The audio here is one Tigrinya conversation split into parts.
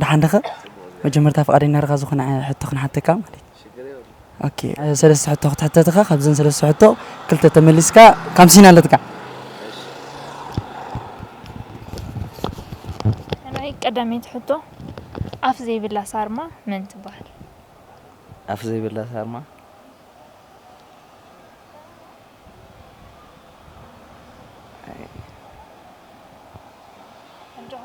ደሓን ዲኻ መጀመርታ ፍቃደኛ ድኻ ዝኾነ ሕቶ ክንሓተካ ማለት ኦኬ ሰለስተ ሕቶ ክትሕተት ኢኻ ካብዘን ሰለስተ ሕቶ ክልተ ተመሊስካ ካምሲን ኣለትካ ናይ ቀዳመይቲ ሕቶ ኣፍ ዘይብላ ሳርማ መን ትበሃል? ኣፍ ዘይብላ ሳርማ ኣጆኻ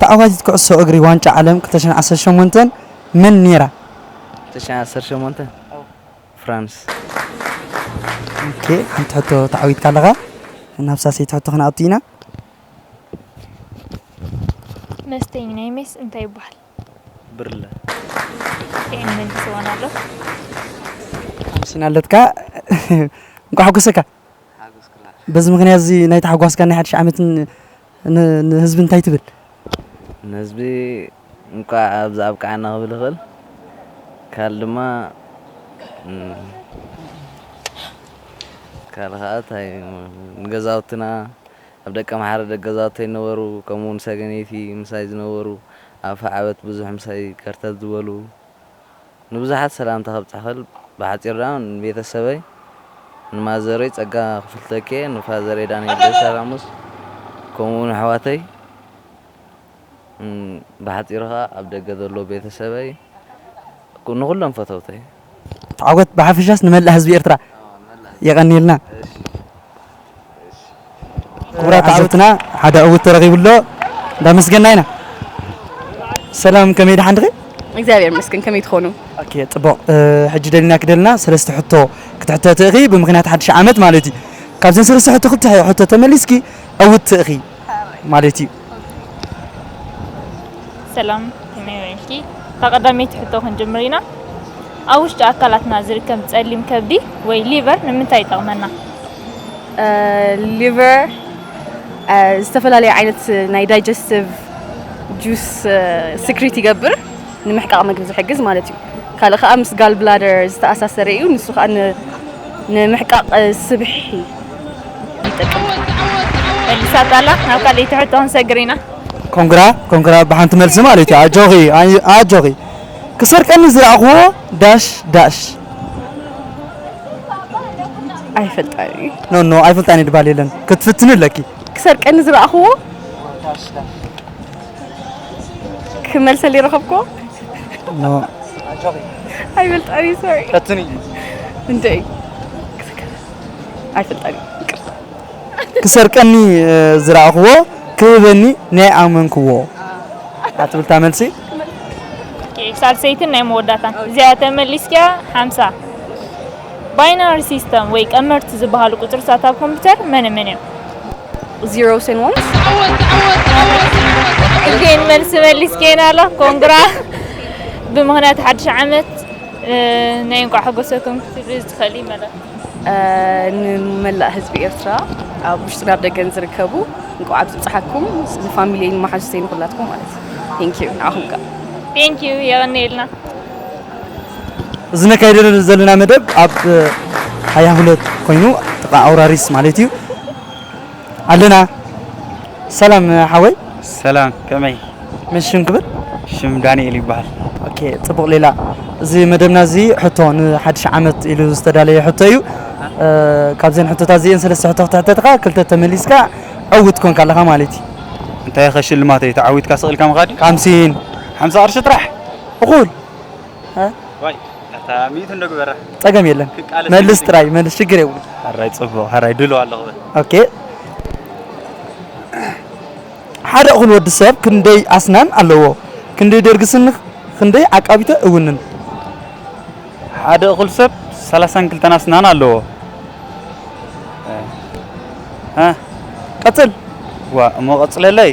ተዓዋቲት ኩዕሶ እግሪ ዋንጫ ዓለም ክልተ ሽሕን ዓሰርተ ሸሞንተን መን ነይራ? ክልተ ሽሕን ዓሰርተ ሸሞንተ ፍራንስ። ሓንቲ ሕቶ ተዓዊትካ ኣለኻ። ናብ ሳልሰይቲ ሕቶ ክንኣቱ ኢና። መስተዪ ናይ ሜስ እንታይ ይበሃል? ብርለ ይህን መንግስዋን ኣሎ ኣምስናለትካ እንኳ ሓጎሰካ በዚ ምክንያት እዚ ናይ ተሓጓስካ ናይ ሓድሽ ዓመት ንህዝቢ እንታይ ትብል ንህዝቢ እንኳ ኣብዚ ኣብቃዓና ክብል ይኽእል ካል ድማ ካል ከዓ ንገዛውትና ኣብ ደቀምሓረ ደገዛውተይ ነበሩ ከምኡውን ሰገነይቲ ምሳይ ዝነበሩ ኣብ ፈዓበት ብዙሕ ምሳይ ከርተት ዝበሉ ንብዙሓት ሰላምታ ከብጽሕ ክእል ብሓጺሩ ደኣ ንቤተሰበይ ንማዘረይ ጸጋ ክፍልተኪኤ ንፋዘረይ ዳንኤል ደስታ ራሙስ ከምኡውን ኣሕዋተይ ብሓጺሩ ከኣ ኣብ ደገ ዘለዉ ቤተሰበይ ንኹሎም ፈተውተይ። ተዓወት ብሓፈሻስ ንመላእ ህዝቢ ኤርትራ የቀንየልና። ክቡራት ተዓዘብትና ሓደ ዕውት ተረኺቡ ኣሎ እንዳመስገና ኢና። ሰላም ከመይ ደሓን ድኺ? እግዚኣብሔር ይመስገን ከመይ ትኾኑ? ኦኬ ጽቡቕ ሕጂ ደሊናኪ ደለና ሰለስተ ሕቶ ክትሕተቲ ኢኺ ብምኽንያት ሓድሽ ዓመት ማለት እዩ። ካብዘን ሰለስተ ሕቶ ክልተ ሕቶ ተመሊስኪ ዕውትቲ ኢኺ ማለት እዩ። ሰላም ከመይ ውዒልኪ? እታ ቀዳመይቲ ሕቶ ክንጅምር ኢና። ኣብ ውሽጢ ኣካላትና ዝርከብ ጸሊም ከብዲ ወይ ሊቨር ንምንታይ ይጠቕመና? ሊቨር ዝተፈላለዩ ዓይነት ናይ ዳይጀስቲቭ ጁስ ስክሪት ይገብር። ንምሕቃቕ መግቢ ዝሕግዝ ማለት እዩ። ካልእ ከኣ ምስ ጋል ብላደር ዝተኣሳሰረ እዩ፣ ንሱ ከኣ ንምሕቃቕ ስብሒ ይጠቅም። መልሳ ጣላክ ናብ ካልኣይቲ ሕቶ ክንሰግር ኢና። ኮንግራ ኮንግራ ብሓንቲ መልሲ ማለት እዩ ኣጆኺ ኣጆኺ ክሰርቀኒ ዝረኣኹዎ ዳሽ ዳሽ ኣይፈልጣን እዩ ኖ ኖ ኣይፈልጣን እዩ ድባል የለን ክትፍትኒ ኣለኪ ክሰርቀኒ ዝረኣኹዎ ክመልሰል ይረኸብኮ ኖ ኣይፈልጣን እዩ ሶሪ ፈትኒ እንደ ኣይፈልጣን እዩ ይቅርታ ክሰርቀኒ እ፣ ዝረኣኽዎ ክህበኒ ናይ ኣመንክዎ ኣትብል እታ መልሲ ሳልሰይትን ናይ መወዳእታን እዚኣ ተመሊስኪያ ሓምሳ ባይናሪ ሲስተም ወይ ቀመርቲ ዝበሃሉ ቁፅርታት ኣብ ኮምፒውተር መነ መን እዮም Zeros and ones. ግን መልሲ መሊስኬን ኣሎ ኮንግራ ብምክንያት ሓድሽ ዓመት ናይ እንቋዕ ሓጎሰኩም ክትብሊ ትኽእሊ መደብ ንመላእ ህዝቢ ኤርትራ ኣብ ውሽጥን ኣብ ደገን ዝርከቡ እንቋዕ ኣብ ዝብጽሓኩም ንፋሚሊየይ ንመሓዙተይ ንኹላትኩም ማለት እዩ ቴንክ ዩ ንዓኹም ከ ቴንክ ዩ የቐንየልና እዚ ነካይዶ ዘለና መደብ ኣብ ሃያ ሁለት ኮይኑ ጥቃ ኣውራሪስ ማለት እዩ ኣለና ሰላም ሓወይ ሰላም ከመይ መን ሽም ክብል ሽም ዳንኤል ይበሃል ኦኬ ጽቡቅ ሌላ እዚ መደብና እዚ ሕቶ ንሓድሽ ዓመት ኢሉ ዝተዳለየ ሕቶ እዩ እ፣ ካብዘን ሕቶታት እዚኤን ሰለስተ ሕቶ ክትሕተትኻ ክልተ ተመሊስካ ዕውት ኮንካ ኣለኻ ማለት እዩ እንታይ ከ ሽልማተይ ተዓዊትካ ስቅ ኢልካ ምኻድ እዩ ሓምሲን ሓምሳ ቅርሺ ጥራሕ እኹል ጸገም የለን መልስ ጥራይ መልስ ሽግር የብሉ ሐራይ ጽቡቅ ሐራይ ድሎ ኣለኹ ኦኬ ሓደ እኹል ወዲ ሰብ ክንደይ ኣስናን ኣለዎ ክንደይ ደርጊ ስኒ ክንደይ ዓቃቢተ እውንን ሓደ እኹል ሰብ ሰላሳን ክልተን ኣስናን ኣለዎ ቀጽል ዋ እሞ ቀጽለለይ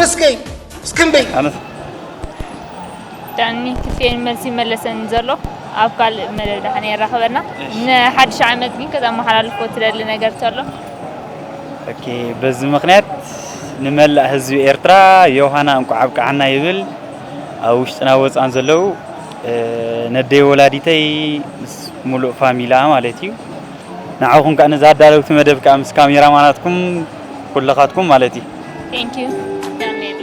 ብስከይ እስክንበይ ዳኒ ክፍኤን መልሲ መለሰኒ ዘሎ ኣብ ካልእ መደብ ዳሓን የራኽበና ንሓድሽ ዓመት ግን ከተመሓላልፎ ትደሊ ነገር ተሎ ኦኬ በዚ ምክንያት ንመላእ ህዝቢ ኤርትራ ዮሃና እንቋዕ ኣብቅዓና ይብል ኣብ ውሽጥና ወፃን ዘለው ነደይ ወላዲተይ ምስ ሙሉእ ፋሚላ ማለት እዩ ንዓኹም ከኣ ነዛ ኣዳለውቲ መደብ ከኣ ምስ ካሜራ ማናትኩም ኩልኻትኩም ማለት እዩ። Thank you ዳንኤላ።